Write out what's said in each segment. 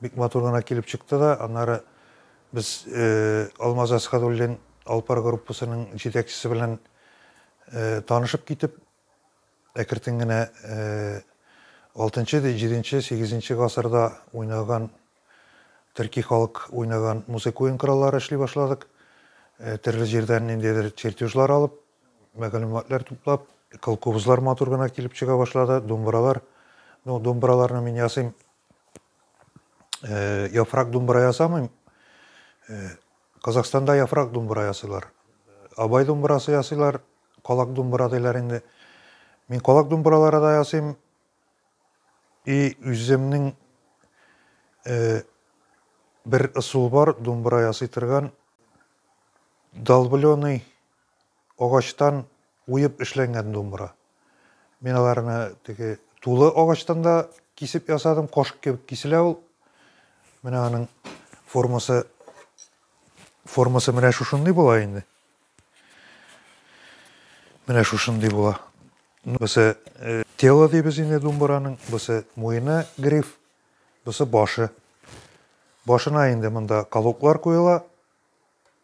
Бик матур гына килеп чыкты да, аннары без Алмаз Әсхәдуллин Алпар группасының җитәкчесе белән танышып китеп, әкертен генә алтынчы, җиденче, сигезенче гасырда уйнаган, төрки халык уйнаган музыка уенкораллары эшли башладык. Төрле җирдән ниндидер чертежлар алып, мәгълүматлар туплап, колкобызлар матур гына килеп чыга башлады, думбыралар. Ну, думбыраларны мин ясыйм, Э, яфрак думбра ясамыйм. Э, Казахстанда яфрак думбра ясыйлар. Абай думбрасы ясыйлар, калак думбра диләр инде. Мин калак думбралары да ясыйм. И үземнең э, бер ысул бар, думбра ясый торган. Долбленый Агачтан уеп эшләнгән думбра. Мин аларны теге тулы агачтан да кисеп ясадым, кашык кебек киселә ул. Менә аның формасы формасы менә шушындый була инде. Менә шушындый була. Бусы э, тело дибез инде думбраның, бусы муены гриф, бусы башы. Башына инде монда колоклар куела.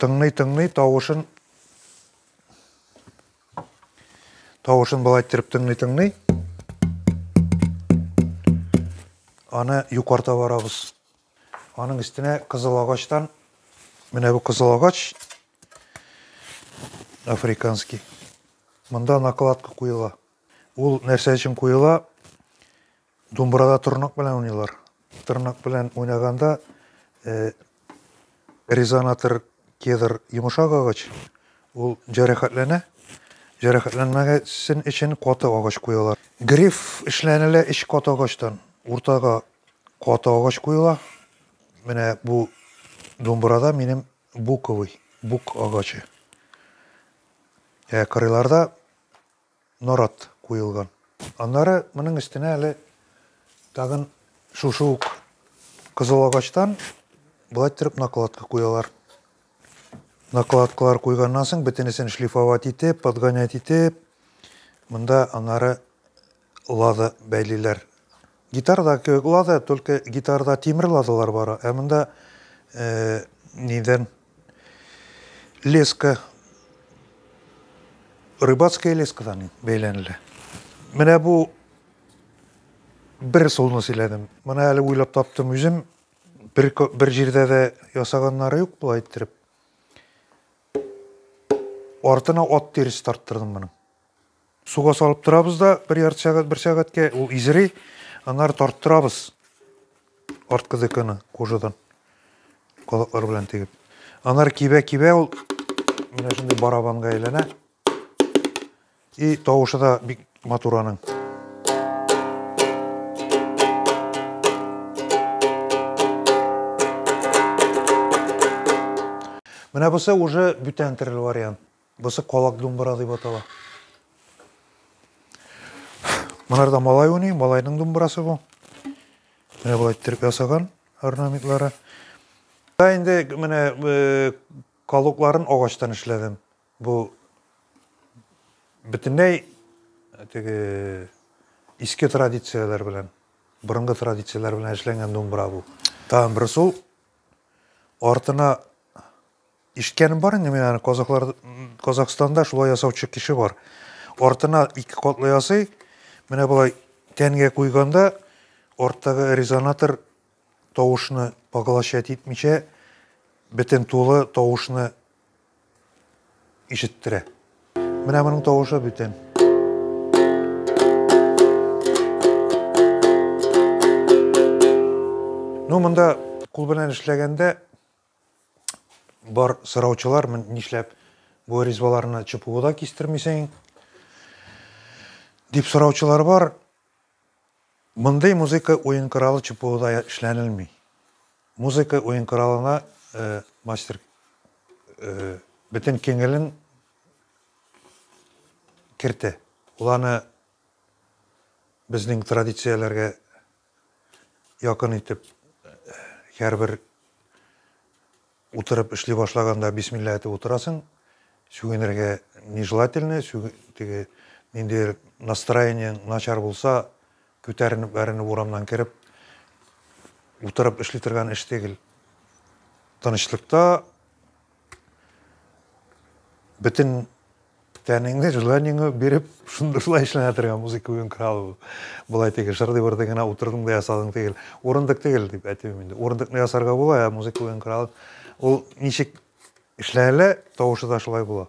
Тыңлый-тыңлый тавышын тавышын болай иттереп тыңлый-тыңлый аны юкарта барабыз. Аның өстенә кызыл агачтан менә бу кызыл агач африканский. Монда накладка куела. Ул нәрсә өчен куела? Думбырада торнак белән уйныйлар. Торнак белән уйнаганда э, резонатор кедр йомшак агач, ул җәрәхәтләнә. Җәрәхәтләнмәсен өчен каты агач куялар. Гриф эшләнелә эч каты агачтан. Уртага каты агач куела. Менә бу думбырада минем буковый, бук агачы. Ә кырыйларда Нарат куелган. Аннары моның өстенә әле тагын шушы ук кызыл агачтан болай иттереп накладка куялар. Накладкалар куйганнан соң бөтенесен шлифовать итеп, подгонять итеп, монда аннары лада бәйлиләр. Гитарада кебек лада, только гитарада тимер ладалар бар, ә монда нидән леска рыбацкая лескадан бәйләнелә. Менә бу бер солны сөйләдем. Моны әле уйлап таптым үзем. Бер, бер җирдә дә ясаганнары юк була иттереп. Артына ат тиресе тарттырдым моның. Суга салып торабыз да бер ярты сәгать, бер сәгатькә ул изри, аннары тарттырабыз арткы деканы кожадан колаклар белән тегеп. Анар кибә-кибә ул менә шундый барабанга әйләнә. И тавышы да бик матур аның. Менә бусы уже бүтән терел вариант. Бусы калак думбыра дип атала. Монарда малай уйный, малайның думбырасы бу. Менә болай иттереп ясаган орнаментлары. Да инде менә э, калукларын агачтан эшләдем. Бу бөтенләй теге иске традицияләр белән, борынгы традицияләр белән эшләнгән думбыра бу. Тагын бер сул артына Ишеткәнем бар инде мин аны, казахлар, Казахстанда шулай ясаучы кеше бар. Артына ике катлы ясый, менә болай тәнгә куйганда, арттагы резонатор тавышны поглощать итмичә, бөтен тулы тавышны ишеттерә. Менә моның тавышы бүтән. Ну, монда кул белән эшләгәндә Бар сораучылар, нишләп бу ризбаларны ЧПУда кистермисең? Дип сораучылар бар. Мондый музыка уен коралы ЧПУда эшләнелми. Музыка уен коралына э, мастер э, бөтен киңелен кертә. Ул аны безнең традицияләргә Якын итеп һәрбер утырып эшли башлаганда бисмилла әйтеп утырасың. Сүгенергә нежелательно, теге ниндидер настроение начар булса, күтәренеп, бәренеп урамнан кереп, утырып эшли торган эш түгел. Тынычлыкта бөтен тәнеңне желаниеңне биреп шунда шулай эшләнә торган музыка уен коралы болай теге шырдый бырдый гына утырдың да ясадың түгел урындык түгел дип әйтмим инде урындыкны ясарга була ә музыка уен коралы ул ничек эшләнелә тавышы да шулай була